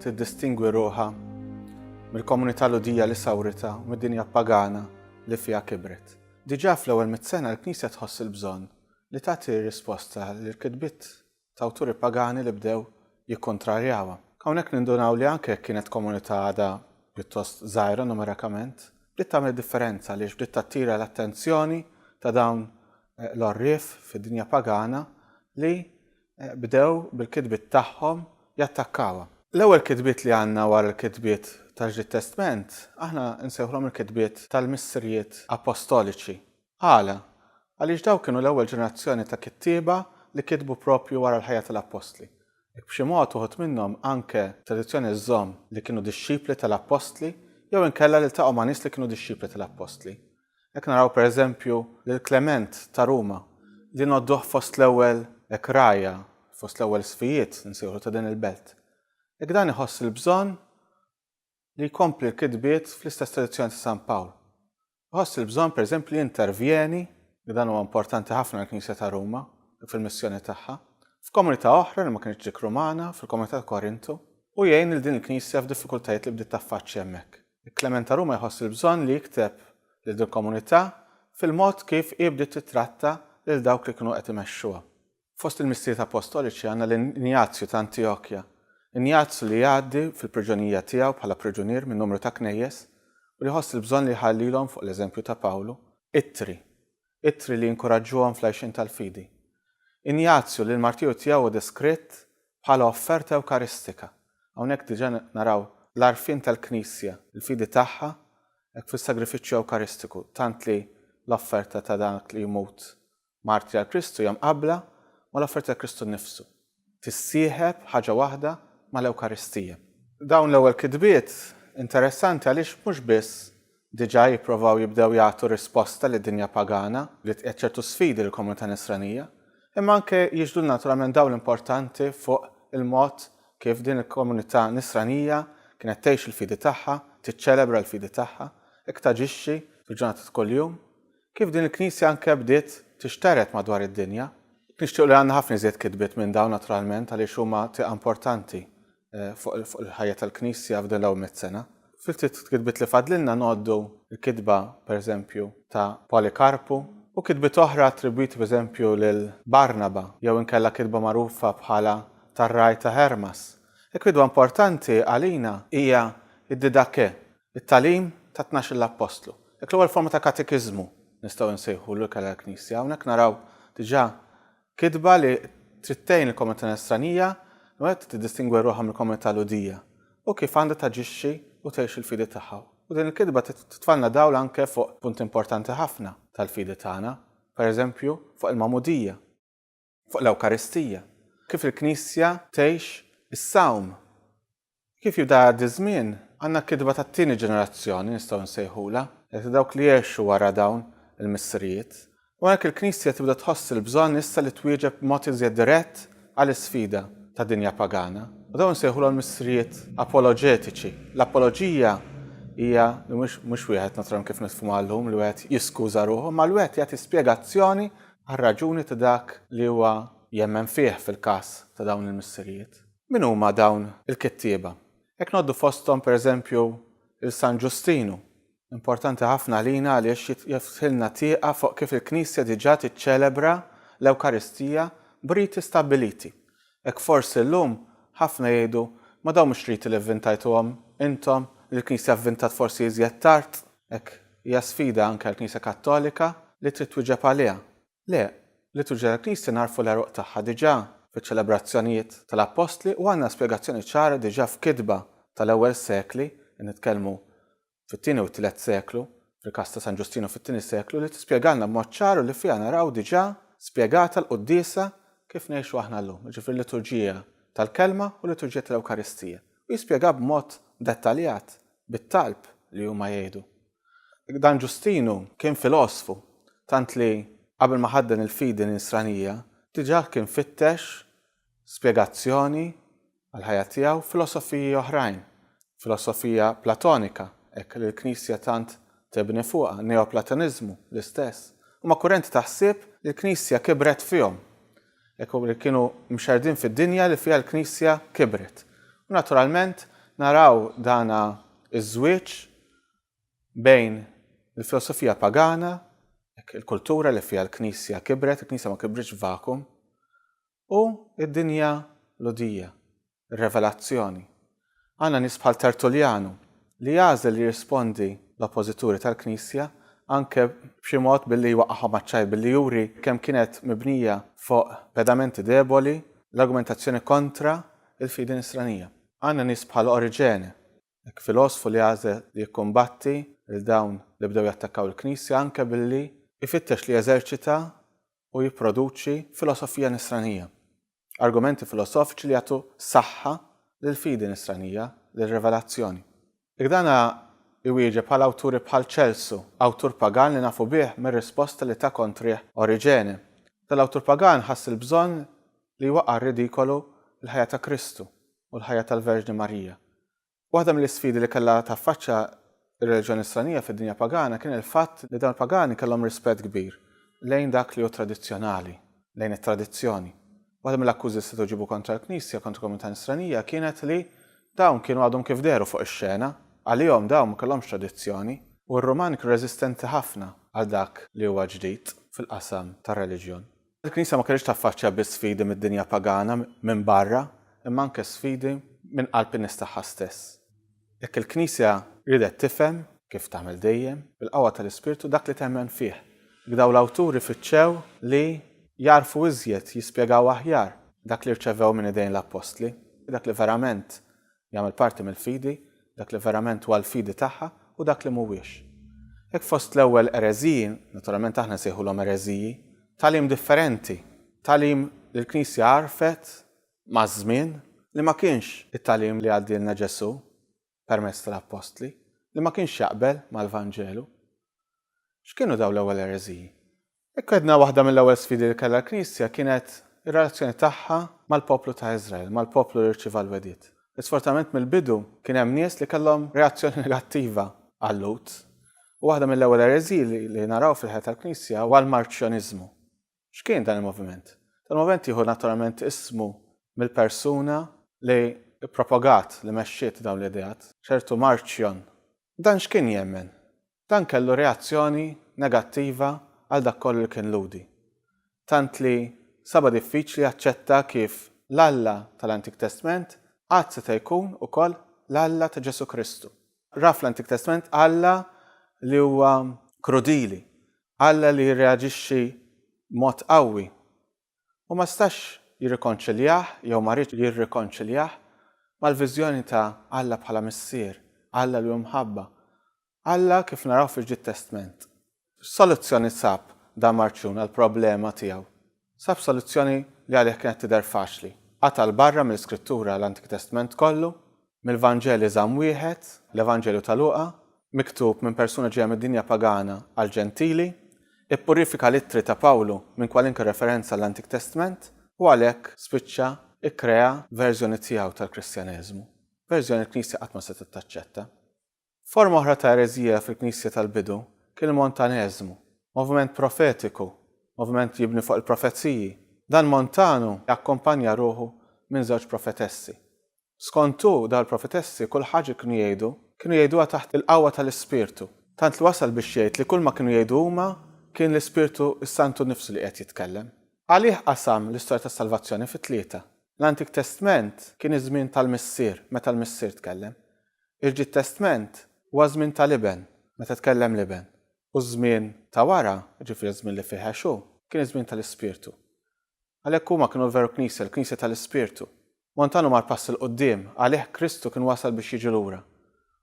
tiddistingwi ruħha mill-komunità Lhudija li sawritha u mid-dinja pagana li fiha kibret. Diġà fl-ewwel mitt sena l-Knisja tħoss il-bżonn li tagħti risposta lill-kitbiet ta' awturi pagani li bdew jikkuntrarjawha. Hawnhekk nindunaw li anke jekk kienet komunità għadha pjuttost żgħira numerikament, bdiet tagħmel differenza għaliex bdiet tattira l-attenzjoni ta' dawn l-għorrief fid-dinja pagana li bdew bil-kitbiet tagħhom jattakkawha. L-ewwel kitbiet li għandna wara l-kitbiet tal-Ġdid Testment aħna nsejħulhom il-kitbiet tal-missirijiet appostoliċi. Għala? Għaliex dawk kienu l-ewwel ġenerazzjoni ta' kittieba li kitbu proprju wara l-ħajja tal-appostli. Hekk b'xi mod uħud minnhom anke t-tradizzjoni żżomm li kienu dixxipli tal-appostli jew inkella li ltaqgħu ma' nies li kienu dixxipli tal-appostli. Hekk naraw pereżempju lil Klement ta' Ruma li ngħodduh fost l-ewwel hekk rgħajja, fost l-ewwel sfijiet insejħulu ta' din il-belt. Hekk dan iħoss il-bżonn li jkompli l-kitbiet fl-istess tradizzjoni ta' San Pawl. Iħoss il-bżonn pereżempju li jintervjeni, li dan huwa importanti ħafna għall-Knisja ta' Ruma fil-missjoni tagħha, f'komunità oħra li ma kinitx dik Rumana, fil-komunità ta' Korintu, u jgħin lil din il-Knisja f'diffikultajiet li bdiet taffaċċja hemmhekk. Klement Aruma jħoss il-bżonn li jikteb lil dil-komunità fil-mod kif hi bdiet tittratta lil dawk li kienu qed imexxuha. Fost il-Missijiet Apostoliċi għandna lil Injazju ta' Antjokja. Injazju li jgħaddi fil-priġunerija tiegħu bħala priġunier minn numru ta' knejjes u li jħoss il-bżonn li jħallilhom fuq l-eżempju ta' Pawlu, ittri. ittri li jinkuraġġuhom fl-għixien tal-fidi. Injazju, li l-martirju tiegħu hu deskritt bħala offerta ewkaristika. Hawnhekk diġà naraw l-għarfien tal-Knisja, il-fidi tagħha hekk fis-sagrifiċċju ewkaristiku, tant li l-offerta ta' dak li jmut martri għal Kristu hija mqabbla mal-offerta ta' Kristu nnifsu. tissieħeb ħaġa waħda mal-Ewkaristija. Dawn l-ewwel kitbiet interessanti għaliex mhux biss diġà jipprovaw jibdew jagħtu risposta lid-dinja pagana li tqiegħed ċertu sfidi lill-komunità Nisranija, imma anke jiġbdulna naturalment dawl importanti fuq il-mod kif din il-komunità Nisranija kienet tgħix il-fidi tagħha, tiċċelebra l-fidi tagħha, hekk taġixxi fil-ġurnata ta' kuljum, Kif din il-Knisja anke bdiet tixtered madwar id-dinja. Nixtiequ li għandna ħafna iżjed kitbiet minn dawn naturalment għaliex huma tieqa importanti fuq il-ħajja tal-Knisja f'din l-ewwel mitt sena. Fil-ftit kitbiet li fadlilna ngħoddu l-kitba pereżempju ta' Polikarpu u kitbiet oħra attribwiti pereżempju lil Barnaba jew inkella kitba magħrufa bħala tar-Ragħaj ta' Hermas. Il-kitba importanti għalina hija d-Didakkè It-tagħlim ta' tnax-il appostlu. Dik l-ewwel forma ta' katekiżmu nistgħu nsejħulu ikel għall-Knisja. Hawnhekk naraw diġà kitba li trid tgħin il-komunità Nisranija wieħed tiddistingwi ruħha mill-komunità Lhudija u kif għandha taġixxi u tgħix il-fidi tagħha. U din il-kitba titfalna dawl anke fuq punti importanti ħafna tal-fidi tagħna, pereżempju fuq il-magħmudija. fuq l-Ewkaristija, kif il-Knisja tgħix is-Sawm. Kif jibda jgħaddi ż-żmien, għandna kitba tat-tieni ġenerazzjoni nistgħu nsejħulha, hekk ta' dawk li għexu wara dawn il-missirijiet. U hekk il-Knisja tibda tħoss il-bżonn issa li twieġeb b'mod iżjed dirett għal isfida ta' dinja pagana. U dawn insejħulhom il-missirijiet apoloġetiċi. L-apoloġija hija li mhux wieħed naturalment kif nifhmuha llum li wieħed jiskuża ruħu, imma li wieħed jagħti spjegazzjoni għar-raġuni ta' dak li huwa jemmen fih fil-każ ta' dawn il-missirijiet. Min huma dawn il-kittieba? Jekk ngħoddu fosthom, per eżempju, lil San Ġustinu, importanti ħafna għalina għaliex jiftħilna tieqa fuq kif il-Knisja diġà tiċċelebra l-Ewkaristija b'riti stabbiliti. Hekk forsi llum ħafna jgħidu, ma dawn mhux riti li vvintajtuhom intom, il-Knisja vvintat forsi iżjed tard, hekk hija sfida anke għall-Knisja Kattolika li trid twieġeb għaliha. Le, l-liturġija tal-Knisja nagħrfu l-għeruq tagħha diġà fiċ-ċelebrazzjonijiet tal-Appostli u għandna spjegazzjoni ċara diġà f'kitba tal-ewwel sekli, qed nitkellmu fit-tieni u t-tielet seklu, fil-każ ta' San Ġustinu fit-tieni seklu, li tispjegalna b'mod ċar u li fiha naraw diġà spjegata l-quddiesa kif ngħixu aħna llum, jiġifieri liturġija tal-Kelma u liturġija tal-Ewkaristija, u jispjegha b'mod dettaljat bit-talb li huma jgħidu. Dan Ġustinu kien filosfu, tant li qabel ma ħadden il-fidi Nisranija, diġà kien fittex spjegazzjoni għall-ħajja tiegħu filosofiji oħrajn, filosofija Platonika, hekk li l-Knisja tant tibni fuqha, Neoplatoniżmu, l-istess. Huma kurrenti ta' ħsieb li l-Knisja kibret fihom, hekk li kienu mxerrdin fid-dinja li fiha l-Knisja kibret. U naturalment naraw dan iż-żwieġ bejn il-filosofija pagana, hekk il-kultura li fiha l-Knisja kibret, il-Knisja ma kibritx f'vakum, U d-dinja Lhudija, ir-Revelazzjoni. Għandna nies bħal Tertuljanu li jagħżel jirrispondi l-oppożituri tal-Knisja anke b'xi mod billi jwaqqagħhom għaċ-ċajr, billi juri kemm kienet mibnija fuq pedamenti deboli l-argumentazzjoni kontra l-fidi Nisranija. Għandna nies bħal Oriġene Hekk filosfu li għażel li jikkumbatti 'l dawn li bdew jattakkaw il-Knisja anke billi jfittex li jeżerċita u jipproduċi filosofija nisranija, argumenti filosofiċi li jagħtu saħħa lill-fidi nisranija, lir-rivelazzjoni. Jekk dan hu jwieġeb għal awturi bħal Ċelsu, awtur pagan li nafu bih mir-risposta li ta kontrih Oriġene. Dan l-awtur pagan ħass il-bżonn li jwaqqa' r-ridikolu l-ħajja ta' Kristu, u l-ħajja tal-Verġni Marija. Waħda mill-isfidi li kellha taffaċċja r-reliġjon Nisranija fid-dinja pagana kien il-fatt li dawn il-pagani kellhom rispett kbir lejn dak li hu tradizzjonali, lejn it-tradizzjoni. Waħda mill-akkużi li setgħu jġibu kontra l-Knisja, kontra l-komunità Nisranija, kienet li dawn kienu għadhom kif dehru fuq ix-xena, għalihom dawn ma kellhomx tradizzjoni, u r-Rumani kienu reżistenti ħafna għal dak li huwa ġdid fil-qasam tar-reliġjon. Il-Knisja ma kellhiex taffaċċja biss sfidi mid-dinja pagana minn barra, imma anke sfidi minn qalb in-nies tagħha stess. Hekk il-Knisja riedet tifhem, kif tagħmel dejjem, bil-qawwa tal-Ispirtu dak li temmen fih. Hekk dawn l-awturi fittxew li jagħrfu iżjed, jispjegaw aħjar, dak li rċevew minn idejn l-Appostli, dak li verament Jagħmel parti mill-fidi, dak li verament huwa l-fidi tagħha u dak li mhuwiex. Hekk fost l-ewwel ereżiji, naturalment aħna nsejħulhom ereżiji, tagħlim differenti, tagħlim li l-Knisja għarfet maż-żmien li ma kienx it-tagħlim li għaddielna Ġesù permezz tal-Appostli, li ma kienx jaqbel mal-Vanġelu. X'kienu dawn l-ewwel ereżiji? Hekk għedna waħda mill-ewwel sfidi li kellha l-Knisja kienet ir-relazzjoni tagħha mal-poplu ta' Iżrael, mal-poplu li rċieva l-wegħdiet. Isfortunatament mill-bidu kien hemm nies li kellhom reazzjoni negattiva għal-Lhud. U waħda mill-ewwel ereżiji li naraw fil-ħajja tal-Knisja huwa l-Marċjoniżmu. X'kien dan il-moviment? Dan il-moviment jieħu naturalment ismu mill-persuna li ppropagat, li mexxiet dawn l-ideat, ċertu Marċjon. Dan x'kien jemmen? Dan kellu reazzjoni negattiva għal dak kollu li kien Lhudi, tant li saba diffiċli jaċċetta kif l-Alla tal-Antik Testment għad seta' jkun ukoll l-Alla ta' Ġesù Kristu. Ra fl-Antik Testment Alla li huwa krudili, Alla li jirreaġixxi b'mod qawwi u ma stax jirrikonċiljah jew ma riedx jirrikonċiljah mal-viżjoni ta' Alla bħala Missier, Alla li hu mħabba, Alla kif naraw fil-Ġdid Testment. X'soluzzjoni sab dan Marċjun għall-problema tiegħu? Sab soluzzjoni li għalih kienet tidher faċli, qata' 'l barra mill-Iskrittura l-Antik Testment kollu Mill-Vanġel Iżamm Wieħed, l-Evanġelju ta' Luqa, miktub minn persuna ġejja mid-dinja pagana għall-Ġentili, ippurifika l-Ittri ta' Pawlu minn kwalunkwe referenza għall-Antik Testment u għalhekk spiċċa kkrea verżjoni tiegħu tal-Kristjaneżmu, verżjoni l-Knisja qatt ma setgħet taċċetta. Forma oħra ta' ereżija fil-Knisja tal-bidu kien il-Montaneżmu, moviment profetiku, moviment jibni fuq il-profeziji. Dan Montanu akkumpanja ruħu minn żewġ profetessi, Skont hu, dawn il-profetessi kull ħaġa li kienu jgħidu, kienu jgħiduha taħt il-qawwa tal-Ispirtu, tant li wasal biex jgħid li kulma kienu jgħidu huma kien l-Ispirtu s-Santu nnifsu li qiegħed jitkellem. Għalih qasam l-istorja tas-salvazzjoni fi tlieta. L-Antik Testment kien iż-żmien tal-Missier, meta l-Missier tkellem. Il-Ġdid Testment huwa ż-żmien tal-Iben, meta tkellem l-Iben. U ż-żmien ta' wara, jiġifieri ż-żmien li fih għex hu, kien iż-żmien tal-Ispirtu. Għalhekk huma kienu l-veru Knisja, il-Knisja tal-Ispirtu. Montano mar pass 'il quddiem, għalih Kristu kien wasal biex jiġi lura.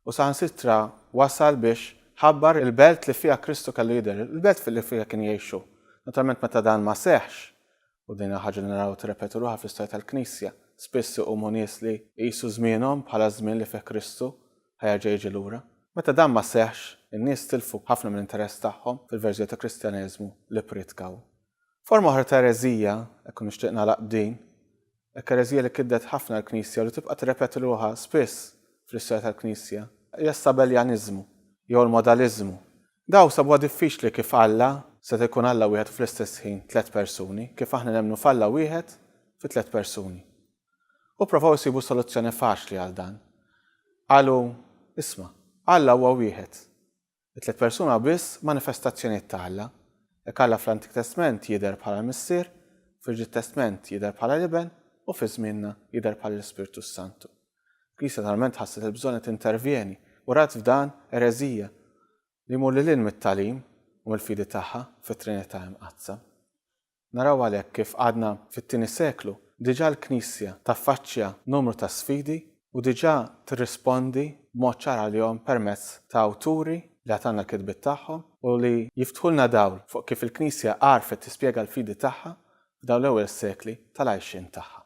U saħansitra wasal biex ħabbar il-belt li fiha Kristu kellu jidher, il-belt li fiha kien jgħix hu. Naturalment meta dan ma seħħx, u din hija ħaġa li naraw tirrepeti ruħha fl-istorja tal-Knisja, spiss iqumu nies li jqisu żmienhom bħala ż-żmien li fih Kristu ħa jerġa' jiġi lura. Meta dan ma seħħx, in-nies tilfu ħafna mill-interess tagħhom fil-verżjoni ta' Kristjaneżmu li ppritkaw. Forma oħra ta' ereżija, hekk u nixtieq nagħlaq b'din, Ekkerezija li kiddet ħafna l-Knisja u li tibqa' tirrepeti ruħha spiss fl-istorja tal-Knisja hija s-Sabellianiżmu, jew l-Modaliżmu. Dawk sabuha diffiċli kif Alla seta' jkun Alla wieħed u fl-istess ħin tliet persuni, kif aħna nemmnu f'Alla wieħed fi tliet persuni. U pprovaw isibu soluzzjoni faċli għal dan. Qalu, Isma', Alla huwa wieħed. It-tliet persuna biss manifestazzjonijiet ta' Alla. Hekk Alla fl-Antik Testment jidher bħala l-Missier, fil-Ġdid Testment jidher bħala l-Iben u fi żmienna jidher bħala l-Ispirtu s-Santu. Il-Knisja talment ħasset il-bżonn li tintervjeni u rat f'dan ereżija li jmur lil hinn mit-tagħlim u mill-fidi tagħha fit-Trinità Imqaddsa. Naraw għalhekk kif għadna fit-tieni seklu diġà l-Knisja taffaċċja numru ta' sfidi u diġà tirrispondi b'mod ċar għalihom permezz ta' awturi li għad għandna l-kitbiet tagħhom u li jiftħulna dawl fuq kif il-Knisja għarfet tispjega l-fidi tagħha f'dawn l-ewwel sekli tal-għajxien tagħha.